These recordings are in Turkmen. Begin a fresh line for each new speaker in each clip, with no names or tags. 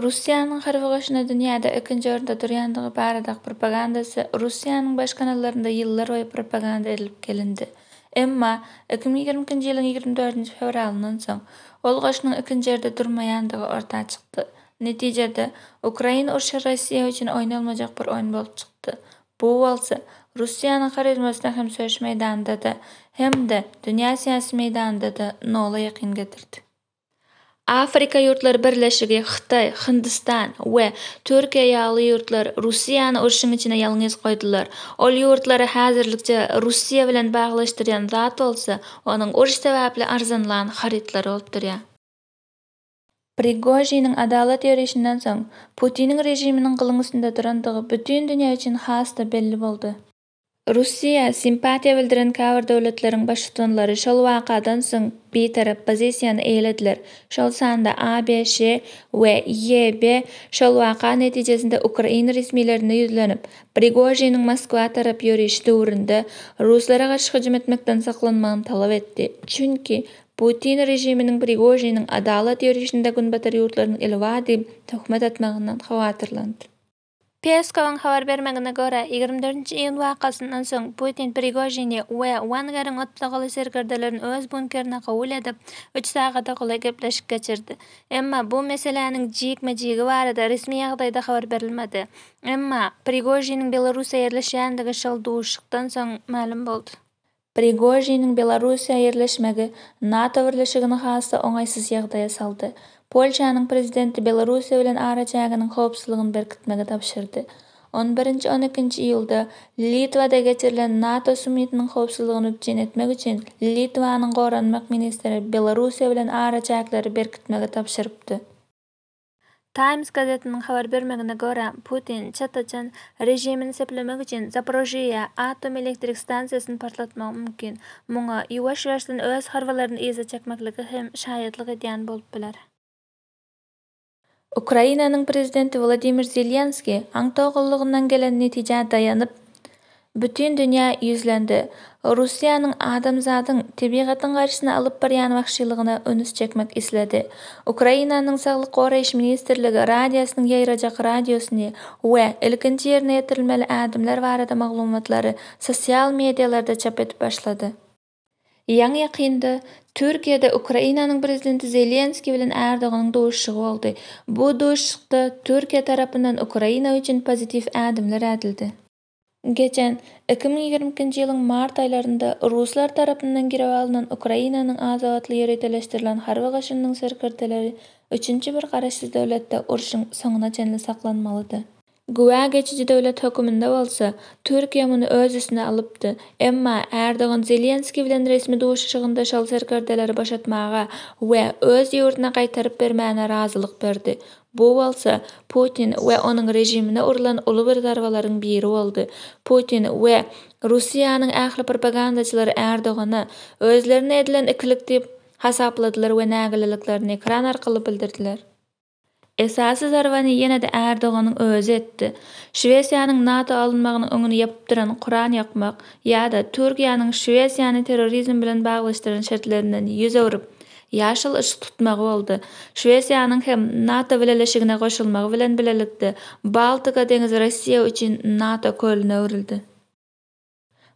Russiýanyň harby goşuny dünýäde ikinji orunda durýandygy baradaky propagandasy Russiýanyň baş kanallarynda ýyllarboýy propaganda edilip gelindi. Emma, iki müň ýigrimi ikinji ýylyň ýigrimi dördünji fewralyndan soň, ol goşunyň ikinji ýerde durmaýandygy orta çykdy. Netijede, Ukraina urşy Russiýa üçin oýnalmajak bir oýun bolup çykdy. Bu bolsa, Russiýanyň harizmasyna hem söweş meýdanynda-da, hem-de dünýä syýasy meýdanynda-da nola ýakyn getirdi. Afrika ýurtlary birleşigi, Hytaý, Hindistan we Türkiýe ýaly ýurtlar Russiýany urşuň içine ýalňyz goýdular. Ol ýurtlary häzirlikçe Russiýa bilen baglaşdyrýan zat bolsa, onuň uruş sebäpli arzanlan harytlary bolup durýar. Prigožiniň adalat ýörişinden soň, Putiniň režiminiň gylyň üstünde durandygy bütin dünýä üçin has-da belli boldy. Russiýa simpatiýa bildiren käbir döwletleriň baştutanlary şol wakadan soň bitarap pozisiýany eýelediler, şol sanda ABŞ we YB şol waka netijesinde ukrain resmilerine ýüzlenip, Prigožiniň Moskwa tarap ýörişi döwründe ruslara garşy hüjüm etmekden saklanmagyny talap etdi, çünki Putin režiminiň Prigožiniň adalat ýörişinde günbatar ýurtlaryň eli bar diýip töhmet atmagyndan howatyrlandy. Peskowyň habar bermegine görä, ýigrimi dördünji iýun wakasyndan soň Putin Prigožini we Wagneriň otlagaly serkerdelerini öz bunkerine kabul edip, üç sagada golaý gepleşik geçirdi. Emma bu meseläniň jikme-jigi barada resmi ýagdaýda habar berilmedi. Emma, Prigožiniň Belarusda ýerleşýändigi şol duşuşykdan soň mälim boldy. Prigožiniň Belarussiýa ýerleşmegi NATO birleşigini has-da oňaýsyz ýagdaýa saldy. Polşanyň prezidenti Belarussiýa bilen araçäginiň howpsuzlygyny berkitmegi tabşyrdy. On birinji, on ikinji iýulda Litwada geçirilen NATO summitiniň howpsuzlygyny üpjün etmek üçin Litwanyň goranmak ministri Belarussiýa bilen araçäkleri berkitmegi tabşyrypdy. Times gazetiniň habar bermegine görä, Putin Çeçen režimini seplemek üçin Zaporojýe atom elektrik stansiýasyny partlatmagy mümkin. Muňa ýuwaş-ýuwaşdan öz harbylaryny yza çekmekligi hem şaýatlyk edýän bolup biler. Ukrainanyň prezidenti Wladimir Zelenskiý aňtaw gullugyndan gelen netijä daýanyp, Bütin dünýä ýüzlendi. Russiýanyň adamzadyň tebigatyň garşysyna alyp barýan wagşylygyna ünüs çekmek isledi. Ukrainanyň Saglyk goraýyş ministrligi radiasynyň ýaýrajak radiusyny we ilkinji ýerine ýetirilmeli ädimler barada maglumatlary sosial medialarda çap edip başlady. Ýaňy-ýakynda Türkiýede Ukrainanyň prezidenti Zelenskiý bilen Erdoganyň duşuşygy boldy. Bu duşuşykda Türkiýe tarapyndan Ukraina üçin pozitiw ädimler ädildi. Geçen, iki müň ýigrimi ikinji ýylyň mart aýlarynda ruslar tarapyndan girip alnan Ukrainanyň adatly ýöriteleşdirilen harby goşunynyň serkerdeleri üçünji bir garaşsyz döwletde urşuň soňuna çenli saklanmalydy. Güwä geçiji döwlet höküminde bolsa, Türkiýe muny öz üstüne alypdy. Emma, Erdogan Zelenskiý bilen resmi duşuşygynda şol serkerdeleri boşatmaga we öz ýurduna gaýtaryp bermäne razylyk berdi. Bu bolsa Putin we onuň režimine urlan uly bir zarbalaryň biri boldy. Putin we Russiýanyň ähli propagandaçylary Erdogany özlerine edilen ikilik diýip hasapladylar we nägileliklerini ekran arkaly bildirdiler. Esasy zarbany ýene-de Erdoganyň özi etdi. Şwesiýanyň NATO alynmagynyň öňüni ýapyp duran Kuran ýakmak ýa-da Türkiýäniň Şwesiýany terrorizm bilen baglaşdyran şertlerinden ýüz öwrüp, Ýaşyl yşyk tutmagy boldy. Şwesiýanyň hem NATO bileleşigine goşulmagy bilen bilelikde, Baltika deňizi Russiýa üçin NATO kölüne öwrüldi.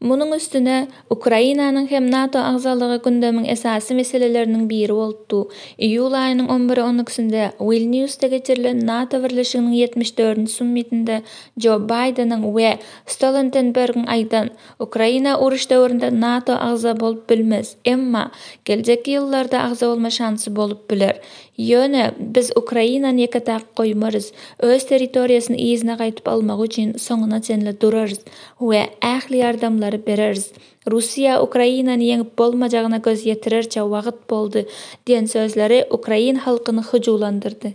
Munuň üstüne, Ukrainanyň hem NATO agzalygy gündemiň esasy meseleleriniň biri bolup du. Iýul aýynyň on biri on ikisinde Wilniusda geçirilen NATO birleşiginiň ýetmiş dördünji summitinde Jo Baýdeniň we Stolentenbergiň aýdan Ukraina uruş döwründe NATO agza bolup bilmez, emma geljekki ýyllarda agza bolma şansy bolup biler. Ýöne biz Ukrainany ýeke-täk goýmarys, öz territoriýasyny yzyna gaýtyp almagy üçin soňuna çenli durarys we ähli ýardamlary bereris. Russiýa Ukrainany ýeňip bolmajagyna göz ýetirerçe wagt boldy diýen sözleri ukrain halkyny hyjuwlandyrdy.